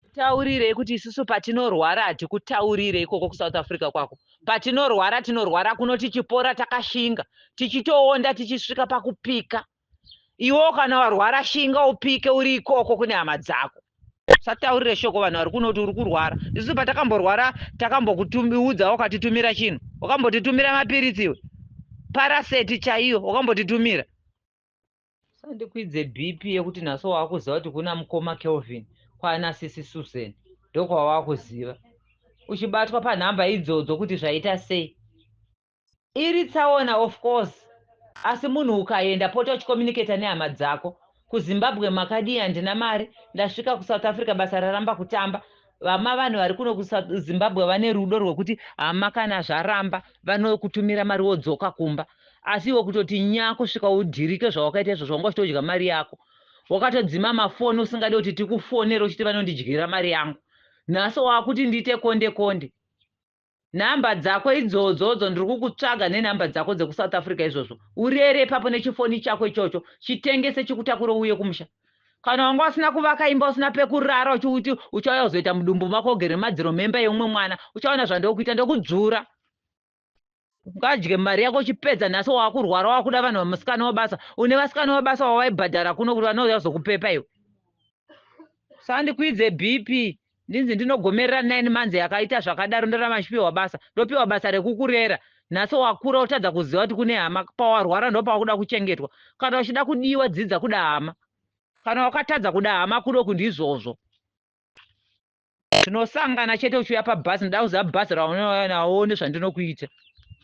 Tikutaurirei kuti isusu patinorwara hatikutaurire ikoko kuSouth Africa kwako. Patinorwara tinorwara kuno tichipora takashinga, tichitoonda tichisvika pakupika. Iwewo kana warwara shinga upike uri ikoko kune hama dzako. Usataurire shoko vanhu vari kuno kuti uri kurwara. Isusu patakamborwara takambokuudza wakatitumira chinhu. Wakambotitumira mapiritsi iwe. Paraseti chaiyo wakambotitumira. Usandikwidze BP yekuti naso wakuziva kuti kuna mukoma Kelvin kwana sisi Susan ndokwawakuziva. Uchibatwa panhamba idzodzo kuti zvaita sei. Iri tsaona of course asi munhu ukayenda pota uchicommunicator nehama dzako. Ku Zimbabwe makadii handina mari ndasvika ku South Africa basa raramba kutamba Vama vanhu vari kuno kuSouth Zimbabwe vane rudo rwekuti hama kana zvaramba vanokutumira mari wodzoka kumba. Asi iwe kutoti nyaa kusvika udhirike zvawakaita izvozvo wanga uchitodya mari yako. Wakatodzima mafoni usingade kuti tikufonere uchiti vanondidyira mari yangu. Nhasi wakuti ndiite konde konde. Number dzako idzodzo dzo ndiri kukutsvaga ne number dzako dzeku South Africa izvozvo. Urere ipapo ne chifoni chako ichocho, chitengese chikutakure uuye kumusha. Kana wanga usina kuvaka imba usina pekurara uchiuti uchauya kuzoita mudumbu mako ugere mumadziro memba yeumwe mwana, uchaona zvandokuita ndokudzvura. Ungadye mari yako uchipedza nhasi wakurwara wakuda vanhu vamusikana wabasa. Une vasikana wabasa wawaibhadhara kuno kuti vanouya kuzokupepa iwe. Usandikwidze BP. Ndinzi ndinogomerera nine months yakaita zvakadaro ndoramba ndichipiwa basa. Ndopiwa basa rekukurera. Nhasi wakura wotadza kuziva kuti kune hama. Pawarwara ndopawakuda kuchengetwa. Kana uchida kudiwa dzidza kuda hama. Kana wakatadza kuda hama kudoku ndizvozvo. Tinosangana chete uchiuya pabus ndoda kuziva bus raunouya nawo uone zvandinokuita.